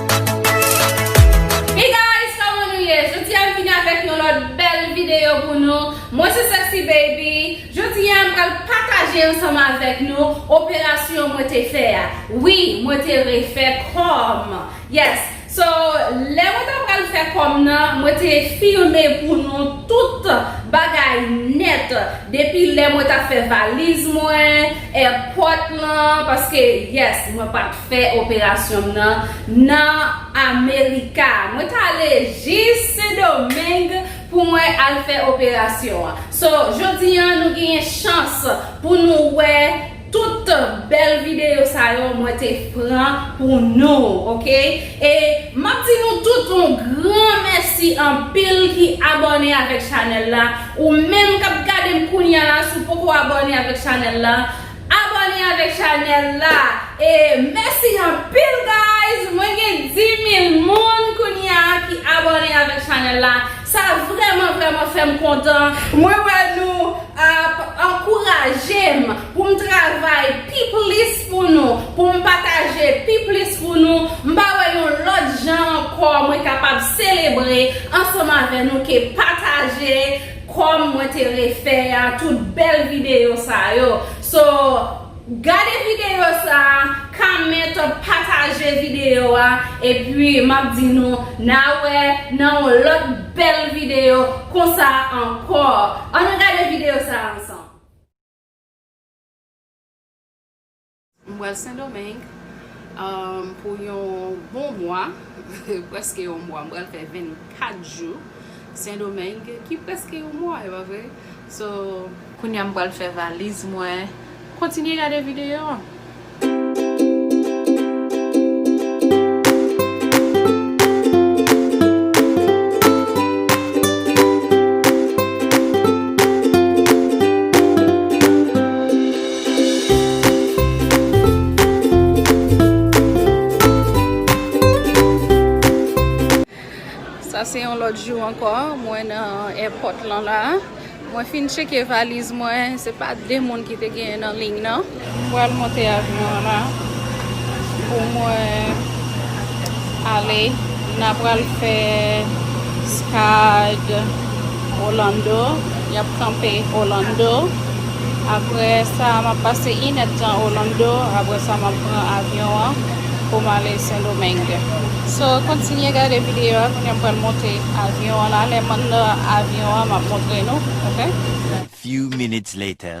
Hey guys koman nou ye jodi a m vini avèk yon lòt bèl videyo pou nou mwen se sexy baby jodi a m pral pataje ansanm avèk nou operasyon mwen te fè a wi mwen te refè kò m yes so lè mwen ta pral fè kò m nan mwen te filme pou nou tout bagay nèt depi lè mwen ta fè valiz mwen èpòt lan paske yes mwen pat Fè operasyon m nan nan Amerika. Mwen t ale jis Sendomeng pou mwen al fè operasyon an. So, jodi an nou genyen chans pou nou wè tout bèl videyo sa yo mwen te pran pou nou. Ok. E m ap di nou tout yon gran mèsi anpil ki abòne avèk chanèl la. Ou menm k ap gade m kounya la si w poko abòne avèk chanèl la, Abone avek chanel la e mesi anpil guys mwen gen 10000 moun kounya ki abone avek chanel la sa vreman vreman fem kontan mwen wè nou ap ankourajem poum travay pi plis pou nou poum pataje pi plis pou nou mpa wè yon lot jan anko mwen kapab selebre ansanm avè nou ke pataje Kòm mwen te refè a tout bèl videyo sa yo so gade videyo sa comment pataje videyo a epi map di nou na wè nan yon lòt bèl videyo konsa ankò ann gade videyo sa ansanm. M pral sendomeng pou yon bon mwa preske yon mwa m pral fè 24 jou sendomeng ki preske yon mwa epa vre so kounya m pral fè valiz mwen kontinye gade videyo an. Sa se yon lòt jou ankò mwen nan èpòt lan la. Mwen fin cheke valiz mwen. Se pa de moun ki te genyen nan liy nan. Mwen pral monte avyon an la pou mwen ale. N apral fè stad Orlando. N ap kanpe Orlando. Aprè sa a, m ap pase inèdtan Orlando, aprè sa m ap pran avyon an pou m ale Sendomeng. So, kontinye gade videyo a, kounye a m pral monte avyon an la, lè m anndan avyon an m ap montre nou, ok. A few minutes later.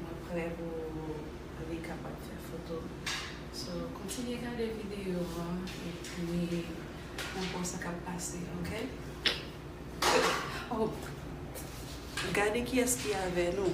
mwen prè pou li kapab fè foto so kontinye gade video an epi wap wè sa kap pase ok oh gade kiyès ki avè nou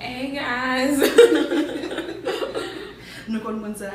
hey guys nou konn moun sa.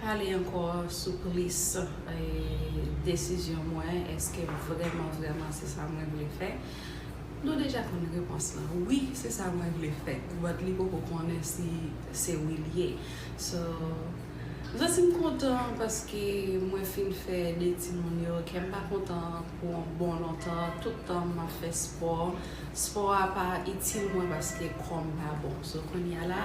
Pale ankò sou plis desizyon mwen, eske vrèman vrèman se sa mwen vle fè? Nou deja konn repons lan, wi se sa mwen vle fè, but li poko konnen si se wi li ye. So, zanti m kontan paske mwen fin fè 2 timoun yo, kè m pa kontan pou on bon lontan, tout tan m ap fè spò, spò a pa itil mwen paske kò m pa bon. So, kounya la.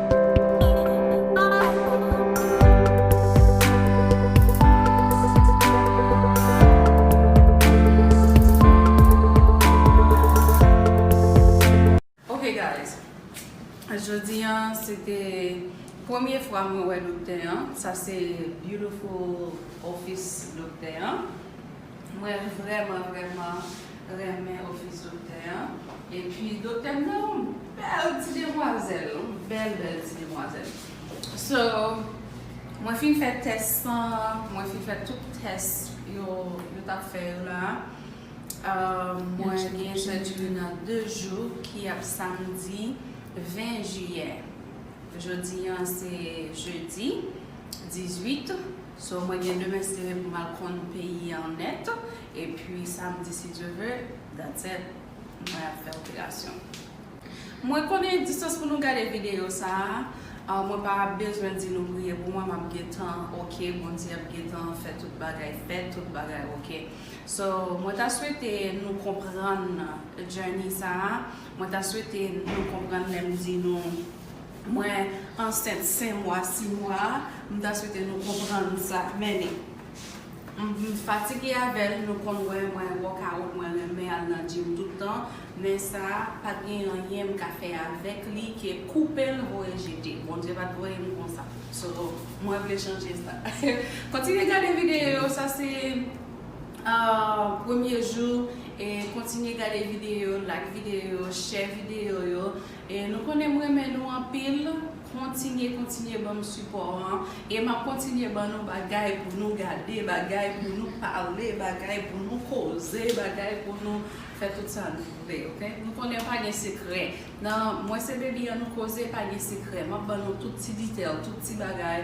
Ok guys Jodi an se te Premye fwa mwen wè doktè an Sa se beautiful office doktè an Mwen vrèman vrèman renmen ofis doktè an epi doktè m nan yon bèl ti demwazèl yon bèl bèl ti demwazèl so mwen fin fè tès san mwen fin fè tout tès yo tap fè yo la mwen gen sèjri nan 2 jou ki ap samdi 20 jiyè jodi an se jedi 18. So mwen gen demen sere pou mal konn peyi an nèt epi samdi si Dye ve that's it mwen ap fè operasyon. Mwen konnen distans pou nou gade videyo sa a mwen pa bezwen di nou priye pou mwen map gentan ok Bondye ap gentan fè tout bagay fèt tout bagay ok so mwen ta swete nou konprann journey sa a mwen ta swete nou konprann lèm di nou Mwen ansent 5 mwa 6 mwa m ta swete nou konprann sa meni m fatige avèl nou konn wè mwen workout mwen renmen al nan gym tout tan men sa pat gen anyen m ka fè avèk li ke koupel voye jete Bondye pat voye m konsa so mwen vle chanje sa kontinye gade videyo yo sa se premye jou kontinye gade videyo yo like videyo yo share videyo yo. E nou konnen m renmen nou anpil kontinye kontinye banm sipò an e map kontinye ban nou bagay pou nou gade bagay pou nou pale bagay pou nou koze bagay pou nou fè tout sa nou vle ok nou konnen pa gen sekrè nan mwen se baby an nou koze pa gen sekrè map ban nou tout ti detail tout ti bagay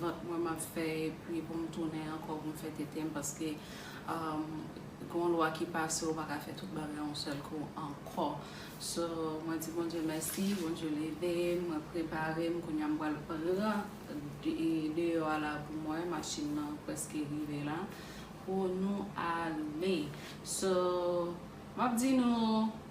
vant mwen map fè epi poum tounen ankò poum fè tetem paske gen yon lwa ki pase ou pa ka fè tout bagay yon sèl kou ankò so mwen di Bondye mèsi Bondye levem mwen preparem kounya m pral pran deyò a la poum wè machin nan preske rive la pou nou ale so map di nou.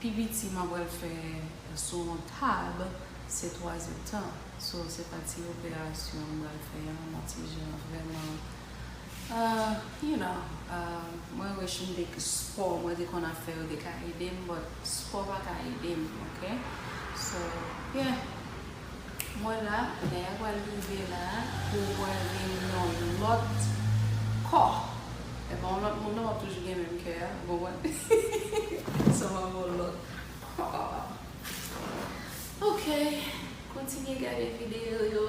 Pi piti map pral fè sou yon tab se 3 ze tan so se pa ti operasyon m pral fè an yon ti jan vrèman you know mwen wish m te spò mwen te konn ap fè yo te ka ede m but spò pa ka ede m ok so yeah. Mwen la, lè a pral rive la pou w wè l gen yon lòt kò. Epa yon lòt moun non wap toujou gen menm kè a, ou konprann? Sa mwen wè yon lòt kò. Ok, kontinye gade videyo yo,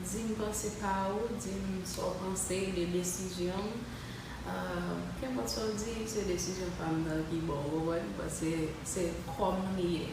di m panse pa ou, di m sa w panse de desizyon m. Kenpòt sa w di, se desizyon pa m nan ki bon, ou konprann? Paske se kò m li ye.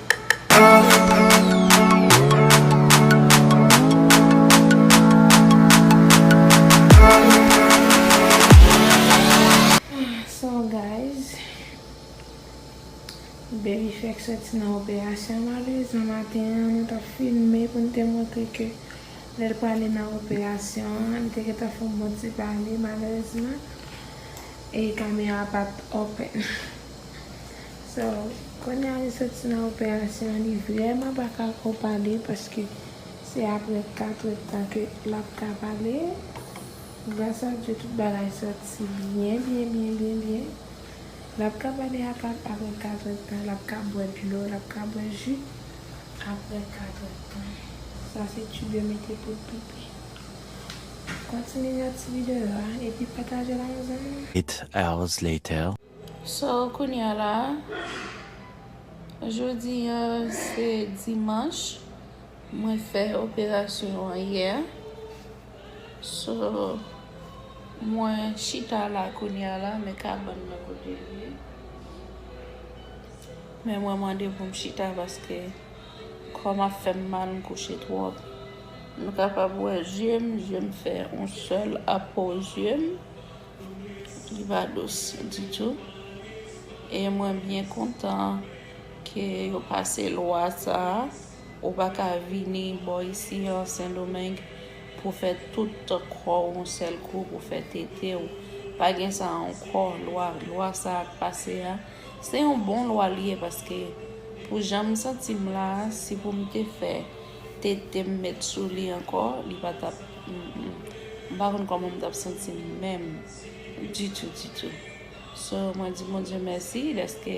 So guys Baby fèk sòti nan operasyon malerezman maten an mwen tap filme pou m te montre ke lèl prale nan operasyon an li te gentan fon bon ti pale malerezman e kamera pat open. So Konya li soti nan operasyon an li vrèman pa ka ko pale paske se aprè 4 èd tan ke lap ka pale gras a Dye tout bagay soti byen byen byen byen byen lap ka pale a pap aprè 4 èd tan lap ka bwè dlo lap ka bwè ji aprè 4 èd tan sa se tube yo mete poul pipi kontinye gad ti videyo a epi patajel ak yon zanmiw. 8 hours later. So kounya la Jodi an se dimanch Mwen fè operasyon an yè So Mwen chita la kounya la men kabann nan kote l ye Men mwen mande pou m chita paske Kò m ap fè m mal m kouche twòp Nou kapab wè zye m Zye m fè yon sèl apò zye m. li pa dous ditou e mwen byen kontan ke yo pase lwa sa a, ou pa ka vini bò isi an Sendomeng pou fè tout kò w yon sèl kou, pou fè tete w, pa gen sa ankò, lwa, lwa sa a k pase a, se yon bon lwa li ye paske pou jan m santi m la a, si pou m te fè. Tetem met sou li ankò li pa tap m pa konn kòman m tap santi m menm ditou ditou so mwen di Bondye mèsi dèske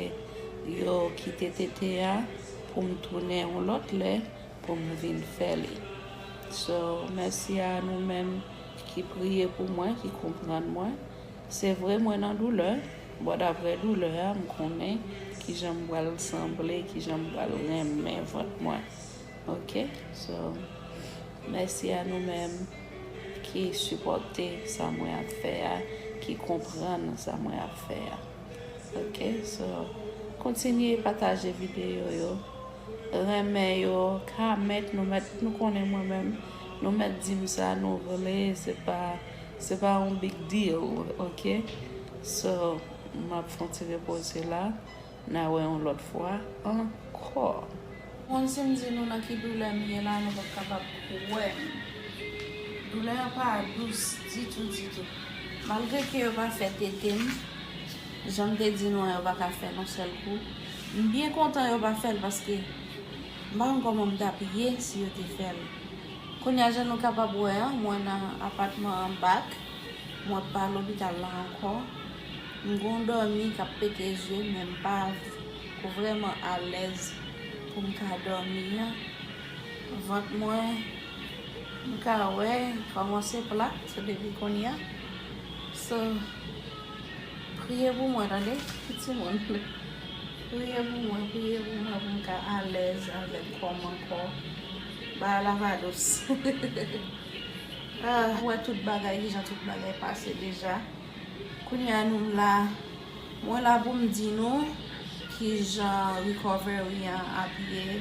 yo kite tete a pou m tounen yon lòt lè pou m vin fè li so mèsi a nou menm ki priye pou mwen ki konprann mwen se vre mwen nan doulè but aprè doulè a m konnen kijan m pral sanble kijan m pral renmen vant mwen. Ok so mèsi a nou menm ki sipòte sa mwen ap fè a ki konprann sa mwen ap fè a ok so kontinye pataje videyo yo renmen yo kament nou mèt nou konnen mwen menm nou mèt di m sa nou vle se pa se pa yon big deal ok so m ap fon ti repoze la. Na wè yon lòt fwa ankò. Konn si m di nou nan ki doulè m ye la nou pap kapab kwè m. Doulè a pa dous ditou ditou. Malgre ke yo pa fè tete m, jan m te di nou an yo pa ka fè l yon sèl kou. M byen kontan yo pa fè l paske m pa konn kòman m t ap ye si yo te fè l. Kounye a jan nou kapab wè an mwen nan apatman an bak, mwen pa lopital la ankò. M gon dòmi kap pete zye men m pa vrèman alèz pou m ka dòmi an. Vant mwen m ka wè li kòmanse plat depi kounya. So priye pou mwen tande timoun. Priye pou mwen, priye pou mwen pou m ka alèz avèk kò m ankò. Bagay la va dous. Ou wè tout bagay kijan tout bagay pase deja. Kounye a nou la, mwen la pou m di nou ki jan recovery an ap ye,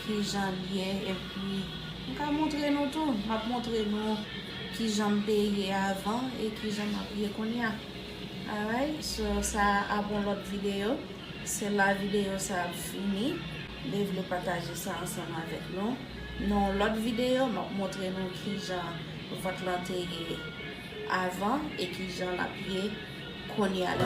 ki jan l ye, epi m ka montre nou tou, m ap montre nou ki jan m te ye avan e ki jan m ap ye kounye a. Alright, so sa a pou yon lòt videyo, se la videyo sa ap fini, m te vle pataje sa ansanm avèk nou. Nan yon lòt videyo, m ap montre nou ki jan vant lan te ye. avan e ki jan l ap ye kounye a la.